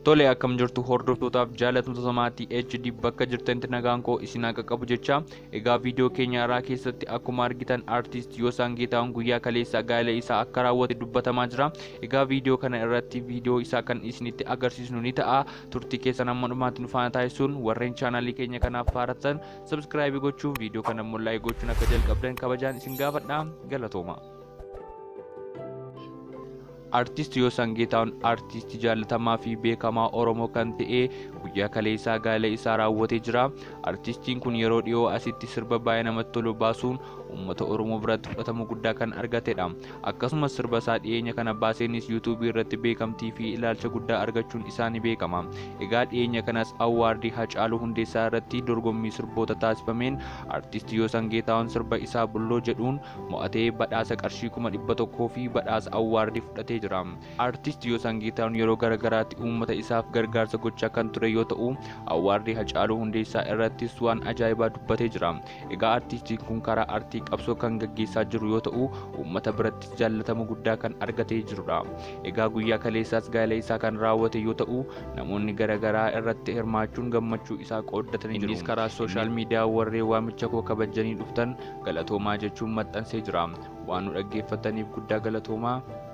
Tole akkam jirtu hordoftootaaf jaalattoota maatii HD bakka jirtanitti nagaan koo isin haa qaqqabu jecha egaa viidiyoo keenya irraa keessatti akkuma argitan artiist Yosaan Geetaahun guyyaa kaleessa gaa'ela isaa akka raawwate dubbatamaa jira egaa viidiyoo kana irratti viidiyoo isaa kan isinitti agarsiisnu ni ta'a turtii keessan amma dhumaatti nu faana taasisuun warreen chaanaalii keenya kanaaf faaratan Subscribe gochuun viidiyoo kana immoo like gochuun akka jalqabdan kabajaan isin gaafadha. Galatooma. Artiist Yoosan Geetaawun artiistii jaallatamaa fi beekamaa Oromoo kan ta'e guyyaa kaleessaa gaa'ela isaa raawwatee jira. Artiistiin kun yeroo dhiyoo asitti sirba baay'ee namatti tolu baasuun uummata Oromoo biratti fudhatama guddaa kan argatedha. Akkasumas sirba isaa dhiyeenya kana baaseenis YouTube irratti beekamtii fi ilaalcha guddaa argachuun isaa ni beekama. Egaa dhiyeenya kanas Awwaardii Hacaaluu Hundeessaa irratti dorgommii sirboota taasifameen Artisti Yoosan Geetaahun sirba isaa Bulloo jedhuun mo'atee badhaasa qarshii kuma 100 fi badhaasa Awwaardii fudhatee jira. Artisti Yoosan Geetaahun yeroo gara garaatti uummata isaaf gargaarsa gochaa kan ture yoo ta'u, Awwaardii Hacaaluu Hundeessaa irrattis waan ajaa'ibaa dubbatee jira. Egaa artiistiin kun karaa artii qabsoo kan gaggeessaa jiru yoo ta'u, uummata birattis jaallatama guddaa kan argatee jirudha. Egaa guyyaa kaleessaas gaa'ela isaa kan raawwate yoo ta'u, namoonni gara garaa irratti hirmaachuun gammachuu isaa qooddatanii jiru. Innis karaa sooshaal miidiyaa warreen waamicha koo kabajjanii dhuftan galatoomaa jechuun maxxansee jira. Waan nu dhaggeeffattaniif guddaa galatoomaa.